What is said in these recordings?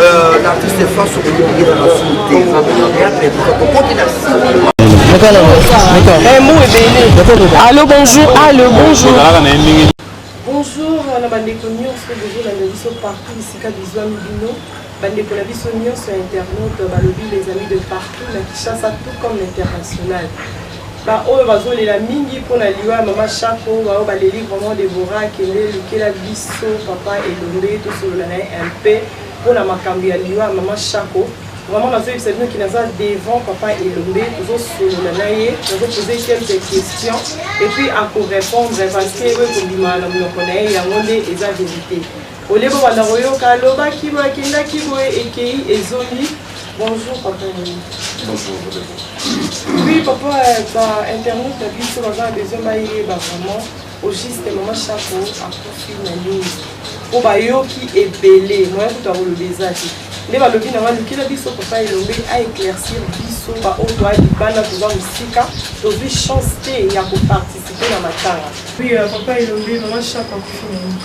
Euh, l'artiste France okoki na masumu te théâtre ekufa tokoki na sima Allô, bonjour. Allô, bonjour. Bonjour, euh, na bandeko nyonso bozolanda biso partout bisika bizwami bino bandeko na biso nyonso ya internaute balobi les amis de partout na kinshasa tout comme l'international Ba oyo bazo lela mingi pona liwa ya mama shako ba oyo ba leli vraiment Deborah akende lukela biso papa elombe to solola naye un peu pona makambu ya liwa ya mama shako vraiment nazo yebisa bino ki naza devant papa elombe tozo solola naye nazo poser quelques questions et puis ako repondre parce que oyo ekobima na munoko naye yango nde eza verite Olie bobanda koyoka aloba kima akendaki boye ekei ezongi bonjour papa nini bonjour oui papa ba internet na biso baza na besoin bayeba vraiment au juste mama chapo akufi na nini mpo bayoki ebele moya kutu akoloba eza te nde balobi na balukela biso papa elombe a éclaircir biso baoyo toa libanda toza mosika tozwi chance te ya koparticipe na matanga oui euh, papa elombe mama chapo akufi na nini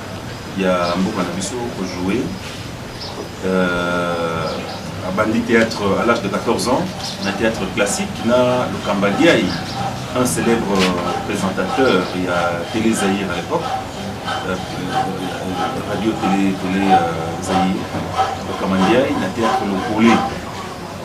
ya mboka na biso ko jouer euh, abandi théâtre à l'âge de 14 ans na théâtre classique na Lukamba Diaye un célèbre présentateur ya Télé Zaïre à l'époque euh, radio Télé Télé euh, Zaïre Lukamba Diaye na théâtre Lokole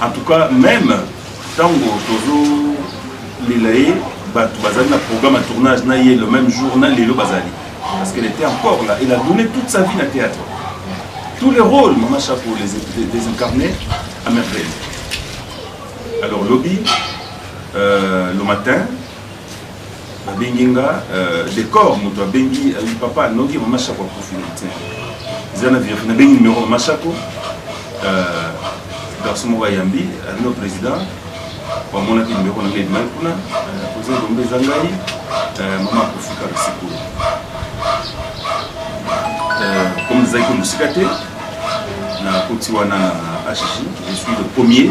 En tout cas meme tango tozo lela ye bato bazali na programme ya tournage na ye le même jour na lelo bazali parce qu'elle était encore là elle a donné toute sa vie na théâtre tous les rôles mama chapeau les désincarnés à merveille alors lobby euh, le matin babengi nga euh, decor moto abengi euh, papa noki mama shako akufi na te eza na vérité nabengi numéro mama shako euh, garçon moko ayambi no président bamonaki numéro na nga edimaki kuna président lombe eza ngai mama akufi kaka sikoyo comme ezalaki mosika te nakoti wana na hg je suis le premier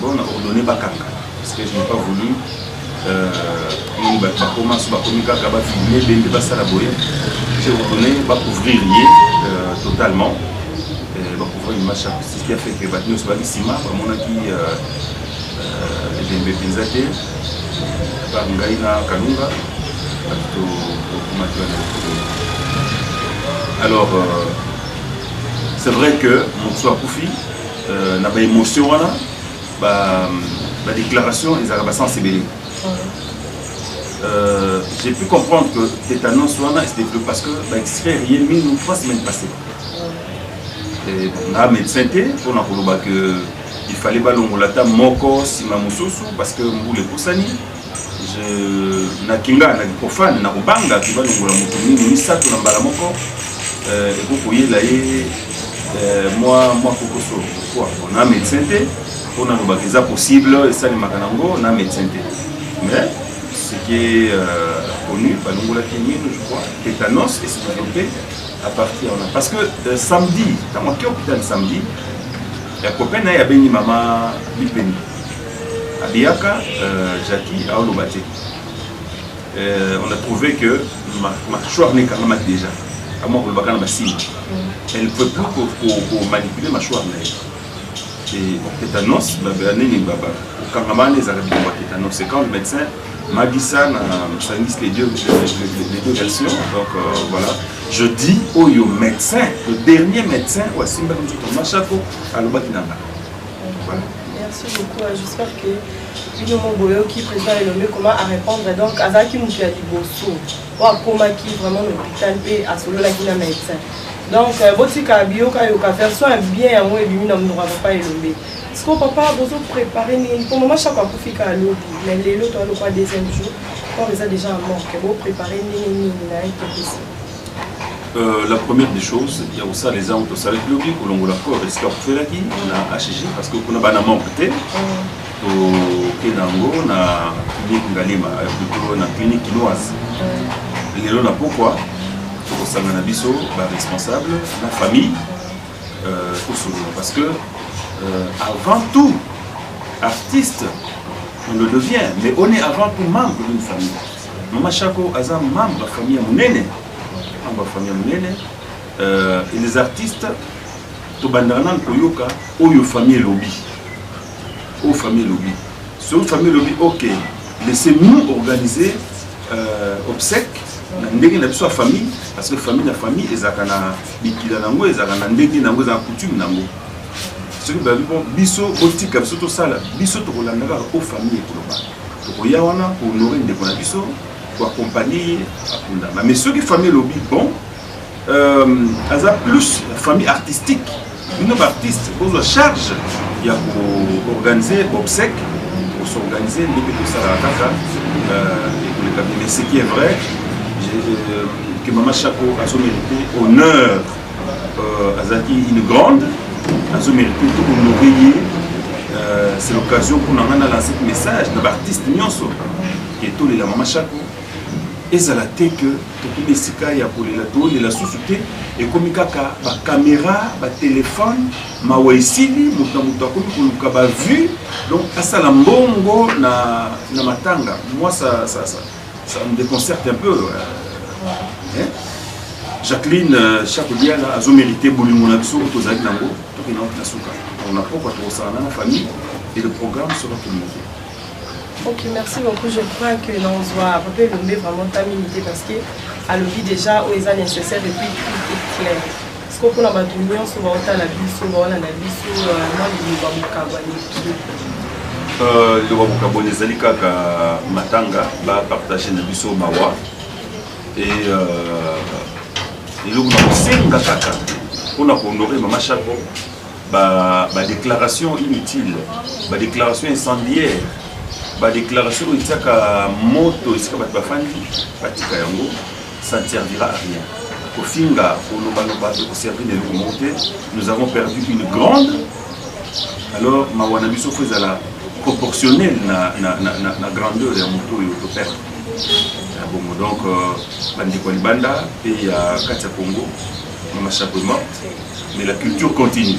Bon, na ordonne bakanga parce que je n'ai pas voulu nini bato bakoma so bakomi kaka bafilme bende basala boye je ordonne bacouvrir ye totalement bacouvrir image ce qui a fait que bato nyonso baki nsima bamonaki ebembe mpenza te ba ngai na kalunga bato tokomaki wana alors c'est vrai que moto akufi euh, na ba émotion wana ba ba déclaration ezalaka ba sens ebele euh, j'ai pu comprendre que tétanos wana se développe parce que ba extraire ye minu trois semaines passées na médecin te mpona koloba que il fallait balongola ata moko nsima mosusu parce que mbula epusani Je na kinga na kipofane na kobanga kiba longola moto mingi misato na mbala moko euh, ekoki koyela ye euh, mwa mwa kokoso kwa na médecin te mpo nalobaka eza possible esalemaka nango na médecin te mais ce qui est euh, connu balongolaki mino je crois tétanos et se développer à partir wana parce que euh, samedi ntango ake hôpital samedi ya copain na ye abengi mama bipeni Abiyaka euh, Jackie aoloba te euh, on a trouvé que machwar ne ekangama déjà amwa kolobaka na basini elle ne peut plus komanipuler machwar na ye tétanos nini kokangama wana ezalaka bikomba tétanos c'est quand le médecin m'a dit ça na sangisi les deux, les deux versions donc euh, voilà je dis oyo médecin le dernier médecin oyo asimbaki nzoto mashako alobaki na ngai Merci beaucoup. Euh, j'espère que bino mo boyoki président elombe comment à répondre donc azalaki moto ya liboso oyo akomaki vraiment na hôpital mpe asololaki na médecin donc euh, botika biyokayoka version ya bien yango ebimi na monoko ya papa elombe sikoyo papa bozo prépare nini mpo mama chako akufi kaka lobi mais lelo toalokoa deuxième jour corps eza déjà ya morke boprépare ndenge nini na ye tokisi Euh, la première des choses ya kosala eza yango tosalaki lobi kolongola corps esika kofelaki na hg parce que kuna bana membre te toke na yango na clinique ngalima plutôt na clinique kinoise lelo na pokwa tokosanga na biso baresponsable na famille euh, tosolola parce que euh, avant tout artiste on le devient mais on est avant tout membre d'une famille Mama Shako aza membre ya famille ya monene, membre ya famille ya monene euh, et les artistes tobandaka nanu koyoka oyo famille elobi, oyo famille elobi, soki famille elobi ok, laissez nous organiser euh, obsèque na ndenge na biso ya famille parce que famille na famille ezalaka na mikila na yango ezalaka na ndenge na yango ezalaka coutume na yango soki babi bon biso botika biso tosala biso tokolandaka o famille ekoloba tokoya wana ko honore ndeko na biso ko accompagner ye akundama mais soki famille elobi bon euh, aza plus famille artistique bino baartiste bozwa charge ya koorganize bobsec kosorganize nde mpe tosalaka kaka euh, ekoleka bien mais ce qui est vrai euh, que mama chaco azomérite honneur Euh, azalaki une grande azo mérite to honore ye euh, c'est l'occasion mpo na ngai na lancer message na baartiste nyonso ke tolela mama shako ezala te ke tokomi esika ya kolela tolela susu te ekomi kaka bakamera batelefone mawa esili moto na moto akomi koluka bavue donc asala mbongo na, na matanga mwa sa, sa, sa. Ça me déconcerte un peu. Hein? Jacqueline euh, Chakudiala azo mérité bolingo na biso oyo tozalaki nango toki na na suka na pokwa tokosala na na famille et le programme sera tout monté Ok, merci beaucoup. Je crois que l'on soit Papa Elombe vraiment ta minute parce que à l'oubli déjà, où est nécessaire depuis tout est clair. siko mpona bato nyonso baotala biso baolanda biso mwa liloba mokabo aleki euh, liloba mokaboni ezali kaka matanga bapartage na biso mawa e euh, eloko na kosenga kaka mpona kohonore mama chaco badéclaration inutile badéclaration incendiaire badéclaration oyo etiaka moto esika bato bafandi batika yango ça ne servira à rien kofinga kolobaloba ekoservi na eloko moko te nous avons perdu une grande alors mawa na biso fo ezala proportionnel na, na, na, na, na grandeur ya moto oyo toperdre ya bongo donc euh, bandeko ya libanda mpe ya kati ya congo mama chapeau morte mais la culture continue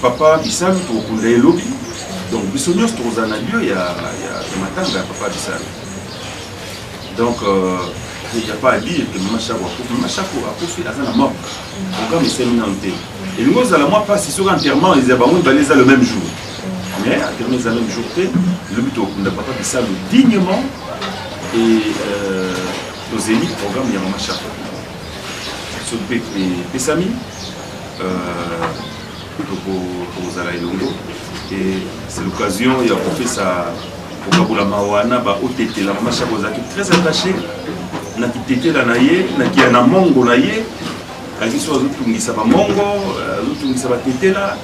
Papa Bisalu tokokunda ye lobi, donc biso nyonso tokozala na lieu ya, ya, ya matanga ya Papa Bisalu. Donc euh, il n'y a pas à dire que Mama Shako akufi. Mama Shako akufi aza na mort. Oka misemi nanu te. Elingi ozala mwa mpasi soki enterrement eza bango mibale eza le même jour. Mais enterrement eza même jour te. Lobi tokokunda Papa Bisalu dignement et euh, tozeli programme ya Mama Shako. Soki mpe epesami tokozala elongo et c'est l'occasion ya kopesa kokabola mawa na baotetela mama shako azalaki très attaché na kitetela na ye na kia na mongo na ye azalaki so azotungisa bamongo euh, azotungisa batetela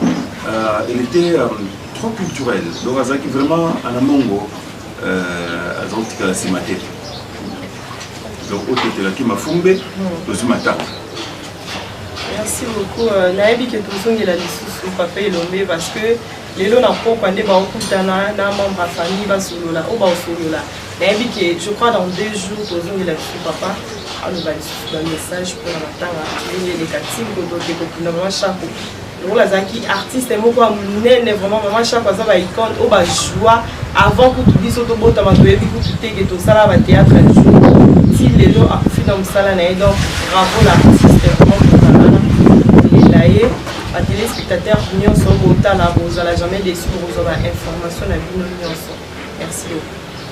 euh, elle était euh, trop culturel donc azalaki vraiment ana mongo aza kotikala nsima te donc otetelaki mafumbe tozwi matanga Merci beaucoup. Euh, nayebi ke tozongela lisusu papa elombe parce que lelo na pokwa nde baokutana na membre ya famille basolola oyo baosolola nayebi ke je crois dans deux jours tozongela lisusu papa aloba lisusu bamessage mpona matanga ndenge elekati kotoke kokunda mwa shako lokola azalaki artiste moko ya monene vraiment mama chaque aza ba icone oyo bajoua avant kutu biso tobotama toyebi kutu te ke tosala batheatre ya jour ti lelo akufi na mosala na ye donc bravo na artiste vraiment tozalana kolela ye batelespectateur nyonso botala bozala jamais desu bokozwa bainformation na bino nyonso merci beaucoup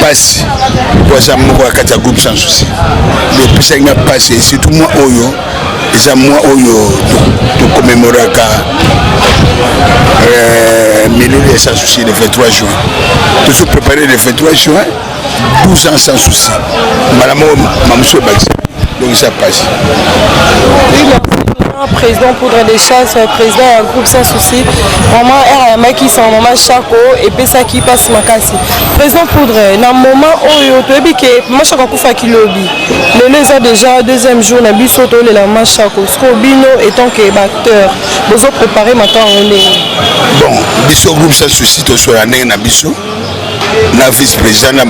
pasi po aza moko ya kati ya groupe sans souci epesaki nga pasi surtout mwa oyo eza mwa oyo tokomemoraka euh, milulu ya sans souci le 23 juin tozo prépare le 23 juin 12 ans sans souci mbala moko mamosu ebakisa donc eza pasi président poudre des chasses président ya groupe sans souci vraiment r ayambaki son mama chako epesaki mpasi makasi Président Poudre, na moment oyo toyebi ke Mashako akufa kilobi. Lelo eza déjà deuxième jour na biso tolela Mashako. Siko bino étant que batteur, bozo préparer makambo yango ndenge. Bon, biso groupe sans souci tosola ndenge na biso na vice président na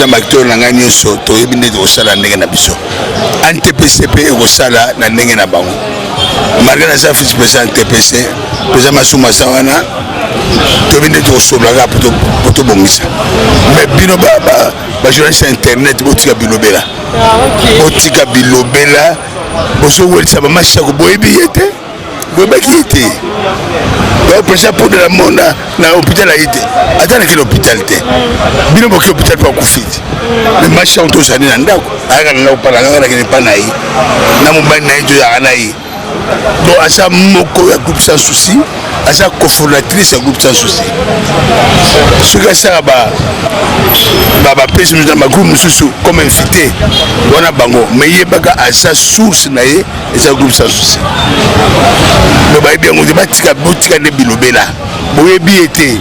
baacteur na ngai nyonso toyebi nde tokosala ndenge na biso antpc mpe ekosala na ndenge na bango malgre naza vice président ntpc président masumasa wana toyebi nde tokosolola kaka po tobongisa me bino bajournaliste ya internet botika bilobela ah, botika bilobela bozowelisa bamasi yako boyebi ye te boyebaki ye te donc president podo na mona na hôpital aye te ata nakende hôpital te bino boki hôpital mpo akufi te me masi yango tozali na ndako ayaka na ndako mpa na ngai nakende mpa na ye na mobali na ye toyaka na ye bon aza moko ya groupe sans souci aza cofondatrice ya groupe sans souci soki asala bapesi na bagroupe mosusu comme invité wana bango mais yebaka aza source na ye eza groupe sans souci me bayebi yango te batika botika nde bilobela boyebi ye te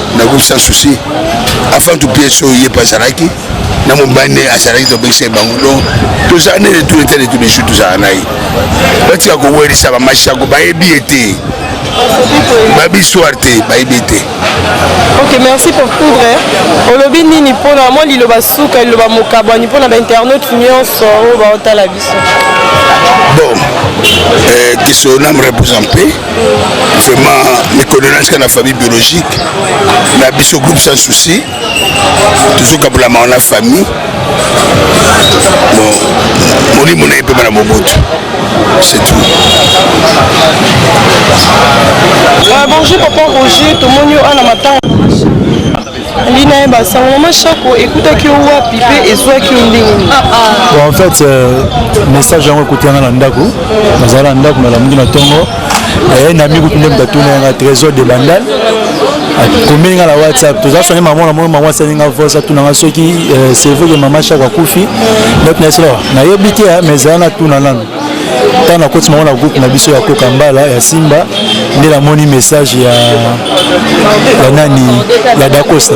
nakoki sans souci avant tout pièce oyo ye mpe azalaki na mobali nde azalaki tobekisa ye bango donc tozala nde de tous les temps de tous les jours tozala na ye batika kowelisa bamashako bayebi ye te babi histoire te bayebi ye te ok merci pour poudre olobi nini mpona mwa liloba suka liloba mokabwani mpona bainternaute nyonso oyo baotala biso bon euh, que son âme repose en paix vraiment mikolo na tika na famille biologique na biso groupe sans souci tozokabolama wana famille molimo na ye mpema na mobutu c'est tout euh, bonjour papa roger tomoni yo ana matanga lina ye basango mama shako ekutaki yo wapi mpe ezwaki yo ndenge nini ah, ah. en fait euh, message yango ekuti yanga na ndako nazala na ndako nalamuki na ntongo aye na miku nde moto atuna yanga trésor de bandal akomeli nga na whatsapp toza songe mama na mona mama asali nga voice atuna nga soki euh, c'est vrai que mama shako akufi donc nayebi te ah, mais ezala na tuna nano ntango nakoti mango na groupe na biso ya koka mbala ya simba nde namoni message ya ya nani ya dacosta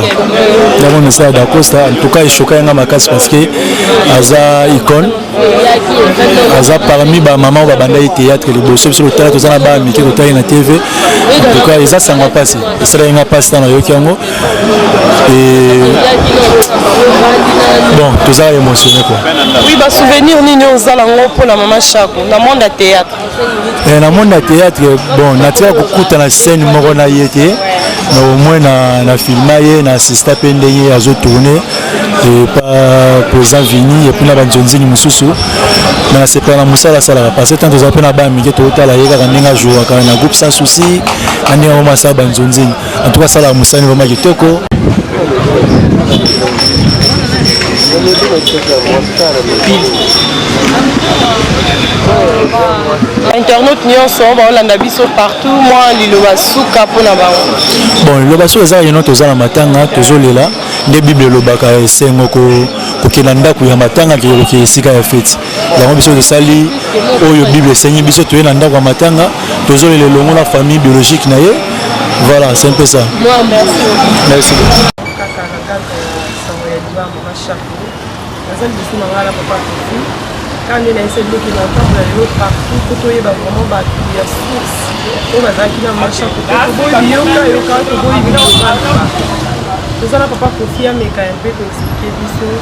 namoni message ya dacosta en tout cas echoka yanga makasi parce que aza icone aza parmi bamama oyo babandaki théâtre liboso biso totala toza na bana mike totali na tv en tout cas eza sango ya mpasi esalaki nga mpasi ntango nayoki yango et bon toza émotionné quoi oui ba souvenir nini ozala ngo mpo na mama shako na monde ya théâtre eh, na monde ya théâtre bon natika kokutana scène moko na ye te na omoi na, na filma ye na assista mpe ndenge azotourne epa président vini epuis na banzonzini mosusu me nasepela na mosala asalaka parce que tant toza mpe na bana mike totala ye kaka ndenge ajouaka na groupe sans souci na ndenge yango masala banzonzini En tout cas, ça la moussani vraiment kitoko. internaute nyonso baolanda biso partout mwa liloba suka mpo na bango bon liloba suka ezaka yeno toza na matanga tozolela nde bible elobaka esengo kokenda ndako ya matanga kekokee esika ya feti yango biso tosali oyo bible esengi biso toye na ndako ya matanga tozolela elongo na famille biologique na ye voilà c'est un peu ça merci naza liboso na ngai na papa kofi kaka nde nayesa biloki na ntango ya lelo partout po toyeba vraiment bato ya source oyo bazalaki na marcha toboyi biyoka yoka toboyi biloka toza na papa kofi ameka ya mpe koexplike biso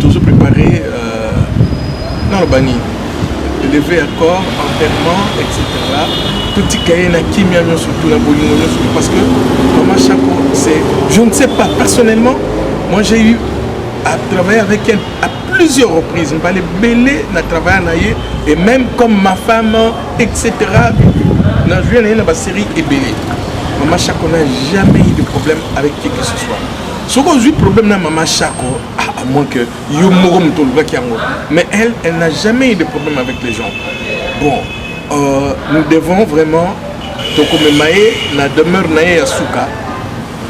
tozo prépare euh, naloba nini leve ya corps enterrement etc totika ye na kimia nyonso to na bolingo nyonso parce que mama chaco c'est je ne sais pas personnellement moi j'ai eu à travailler avec elle à plusieurs reprises mbala ebele na travailla na ye et même comme ma femme etc na joué na ye na basérie ebele mama chaco n'a jamais eu de problème avec qui que ce soit soki ozwi problème na mama shako ah, à moins que yo moko moto olobaki yango mais elle elle n'a jamais eu de problème avec les gens bon euh, nous devons vraiment tokomema ye na demeure na ye ya suka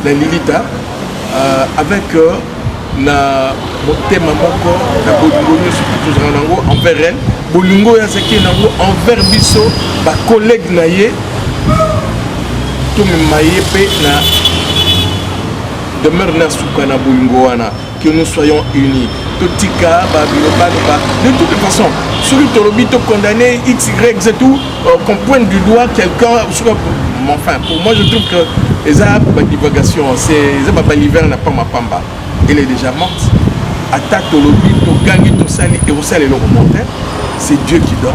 na lilita euh, avec euh, na motema moko na bolingo nyonso tozala nango envers elle bolingo oyo azaki nango envers biso bacollègue na ye tomema ye mpe na demeure na suka na bolingo wana que nous soyons unis totika babilobani ba de toute façon soki tolobi tocondamne xyz ou euh, qu'on pointe du doigt quelqu'un soki enfin pour moi je trouve que eza badivagation eza babalivere na pamba pamba elle est déjà morte ata tolobi togangi tosali ekosala eloko monte c'est dieu qui donne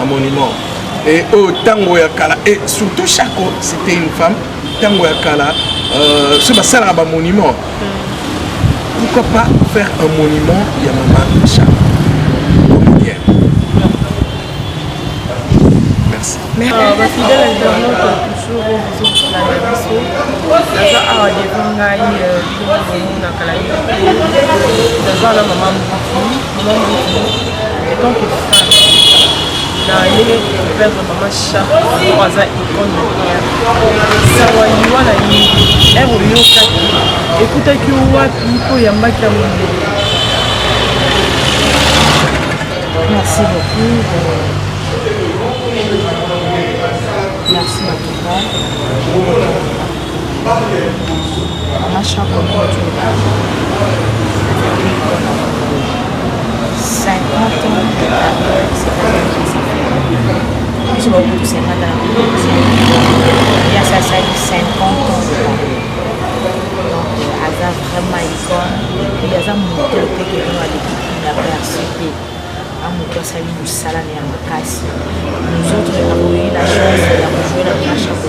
Un monument. Et au oh, tango ya kala et surtout Chaco, c'était une femme. Tango ya kala, euh, ce basala un monument. Pourquoi pas faire un monument ya maman Chaco? Merci. Merci. Ah, bah, fidèle internaute, toujours au bout de la biso. naza awa devant ngai euh, omonaka la naza na mama moki ndenge koperdre mama chako aza icone na guerre sango aliwa na nini ere oyokaki ekutaki yo wapi mpo oyambaki ya mondo merci beaucoup merci matuka biso bakutu 50 ya sasali 50 aza vraiment icone ye aza moto teke bino aleki kina perse te a moto asali mosala na ya makasi nous autres nakoyei na chance ya kojoue na machako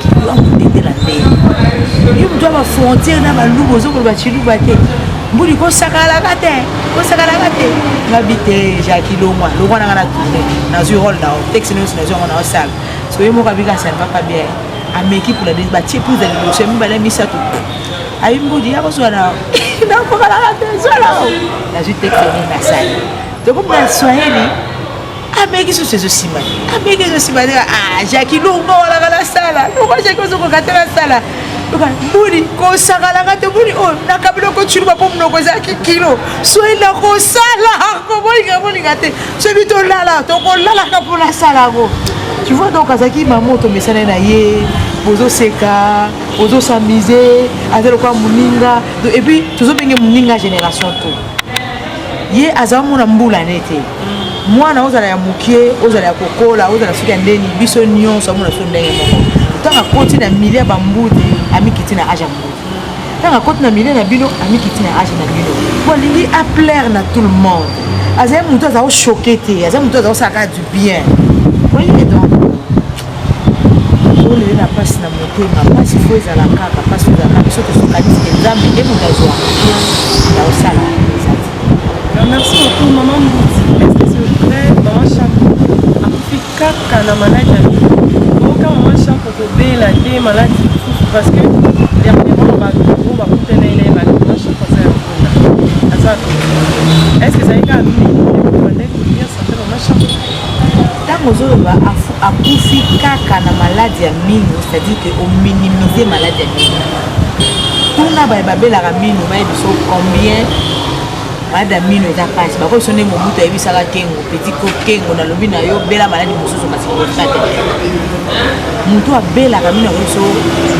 Kibu yango ndetela nde. Yo mutu ba frontière na baluba ozokoloba chiluba te. mbuli kosakalaka te kosakalaka te ngabi te jaki longwa longwa nanga na tourne nazwi role nao texte nyonso nazwi yango nao sala so ye moko abika asalvaka bien ameki pula de batie plus ya liboso ya mibale ya misato ayi mbudi ya kozwa nao nakokalaka te zwa nao nazwi texte nini nasali tokomona swahili abeki susu ezosimba abeki ezosimba te ah jaki longo olaka nasala longo jaki ozokoka te nasala boni kosakalaka te boni oyo nakabila okociluba mpo monoko ezalaki kilo soki nakosala kobolinga bolinga te soki tolala tokolalaka mpo nasala yango tu vois donc azalaki mama oyo tomesana na ye bozoseka bozosamise aza lokola moninga epuis tozobenge moninga génération to ye aza mona mbula ne te mwana ozala ya mokie ozala ya kokola ozala soki ya ndeni biso nyonso amona so ndenge moko ntango akoti na milie ya bambudi amikiti na age ya mbudi ntango akoti na milie na bino amikiti na age na bino po alingi aplaire na tout le monde azali motu aza kochoke te aza motu aza kosala kaka du bien oyebi donc olele na mpasi na motema mpasi fo ezala kaka mpasi ezala kaka biso tosokanisi ke nzambe nde moto azwa ya osala merci beaucoup mama mbuti espèce de vrai mama shako akufi kaka na maladi ya oyoka mama shako kobela te maladi mosusu parce que dernièrement bato oyo bakutana ena ebale mama shako aza ya mpona aza est ce que ezali kaka mimi Tango ozoloba akufi kaka na malade ya mino, c'est-à-dire que o minimiser malade ya mino. Tuna baye babelaka mino bayebi so combien malade ya mino eza pasi. Bakoki so nde Mobutu ayebisaka Kengo, petit ko Kengo nalobi na yo bela malade mosusu kasi koleka te. Moto abelaka mino akoki so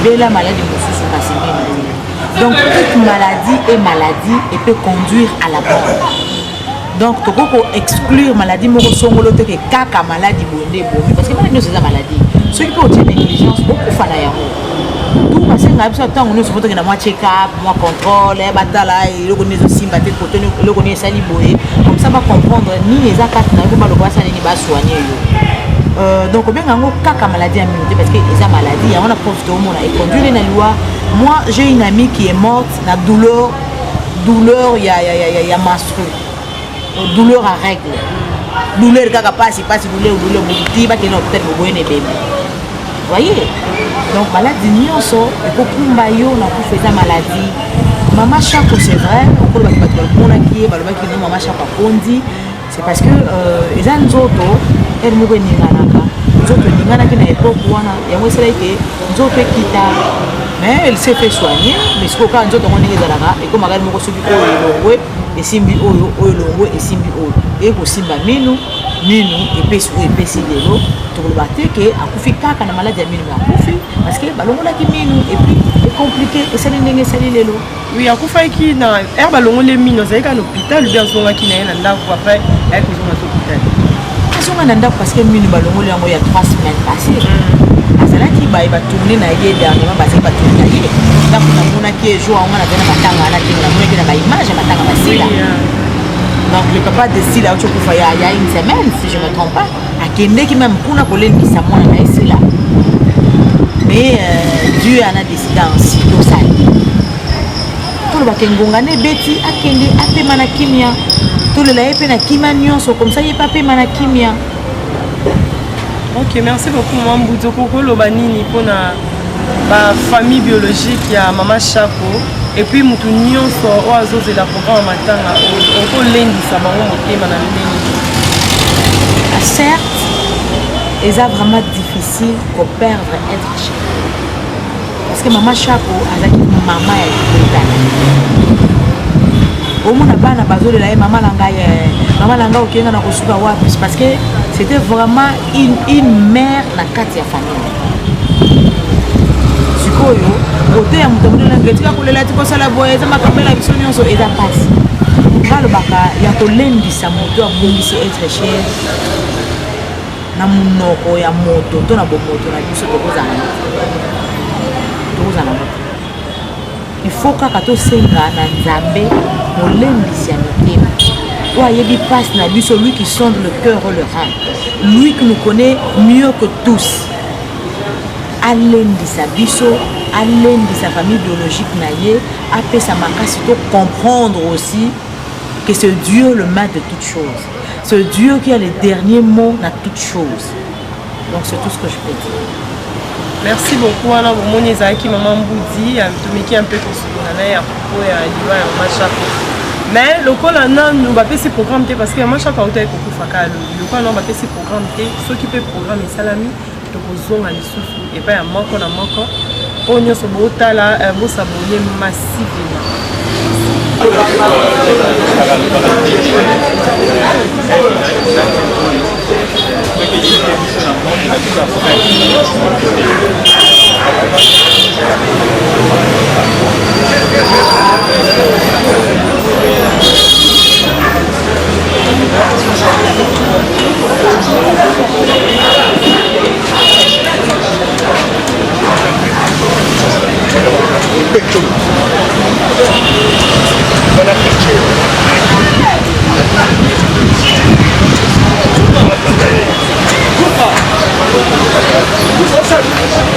bela malade mosusu kasi mino. Donc toute maladie est maladie et peut conduire à la mort. donc tokoki ko exclure maladie moko songolo te ke kaka maladi boye nde ebomi parce que maladi nyonso eza maladie soki mpe otie négligence bokufa na yango tu basengaka biso ntango nyonso fo tokenda mwa check up mwa contrôle eh, batala eh, eloko nini ezosimba te koto eloko nini esali boye comme ça bacomprendre nini eza kati na yo mpo baloba basala nini basoigne yo euh, donc obenga yango kaka maladie ya mino te parce que eza maladie yango na profite omona econduire na liwa moi j'ai une amie qui est morte na douleur douleur ya, ya, ya, ya, ya menstru douleur à règle douleur kaka pasi pasi douleur douleur bokuti bakende hôpital boboye na ebembe voye donc maladi nyonso ekokumba yo na kufa eza maladi mama shako c'est vrai okolo bato bato bamonaki ye balobaki no mama shako akondi c'est parce que euh, eza nzoto ere moko eninganaka nzoto eninganaki na epoke wana yango esalaki ke nzoto ekita mais elle s'est fait soigner mais sikoyo kaka nzoto yango ndenge ezalaka ekomaka moko soki oyo elongwe esimbi oyo oyo elongwe esimbi oyo eye kosimba minu minu epesi oyo epesi lelo tokoloba te ke akufi kaka na maladi ya minu me akufi parce que balongolaki minu epuis ecomplike esali ndenge esali lelo Oui, akufaki na heure balongoli mino azalaki na hôpital oubien azongaki na ye na ndako après ayaki kozonga to hôpital azonga na ndako parce que mino balongoli yango ya 3 semaines passé mm. azalaki baye batourne na ye dernièrement bazali batourne na ye ndako namonaki ejour yango nazali na matanga wana te namonaki na baimage ya matanga basila donc le papa de sila auti okufa ya une semaine si je me trompe pas akendeki meme kuna kolendisa mwana na ye sila mais euh, dieu ana desida ansi tosali tolobaka engonga na ebeti akende apema na kimia tolela ye mpe na kimia nyonso komisa ye mpe apema na kimia ok merci beaucoup mambuzo kokoloba nini mpona ba famille biologique ya mama shako epuis motu nyonso oyo azozela programe ya matanga oyo okolendisa bango motema na ndenge ah, certes eza vraiment difficile koperdre être cher parce que mama shako azalaki mama ya libota omona bana bazolela ye mama na ngai eh, mama na ngai okenga na kosuka wapi parce que c'était vraiment une, une mère na kati ya famille sikoyo kote ya moto amoni olanga etika kolela ti kosala boye eza makambo ela biso nyonso eza mpasi balobaka ya kolendisa moto abungisi etre cher na monoko ya moto to na bomoto na biso tokozala tokozala moto Il faut kaka tosenga na Nzambe molembisi ya mitema oyo ayebi mpasi na biso lui qui sonde le cœur o le rein lui qui nous connaît mieux que tous alendisa biso alendisa famille biologique na ye apesa makasi to comprendre aussi que c'est Dieu le maître de toutes choses c'est Dieu qui a le dernier mot na toutes choses donc c'est tout ce que je peux dire merci beaucoup wana bomoni ezalaki mama mbudi atomeki ya mpe kosolola na ye ya propos ya liwa ya mama chapo mais lokola nanu bapesi programme te parce que mama chapo auta ekokufa kaka lobi lokola nanu bapesi programme te soki mpe programme esalami tokozonga lisusu epai ya moko na moko oyo nyonso botala eh, bosabone masivima Thank you.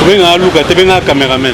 Venga, Luca, te venga, cameraman.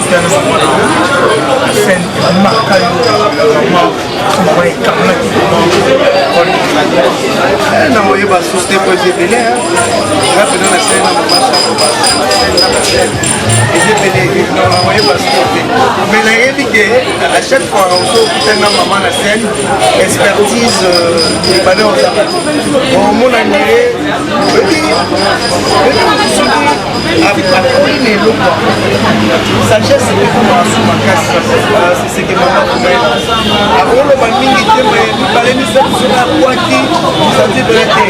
chaque fois okokutana mama na scène expertise ebale oza omona ndele apakoli na eloko sagesse ekokoma asu makasi seseke mama komela akoloba mingi te me mibale misato soki akwaki santi bele te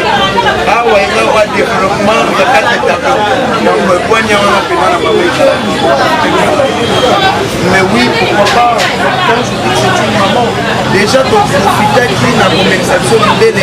awa eza wa développement ya kati etaka yango ekwanya wana mpema na mabeki mais oui pourquoi pas quand je dis c'est une maman déjà toprofitaki na komekisa biso mindele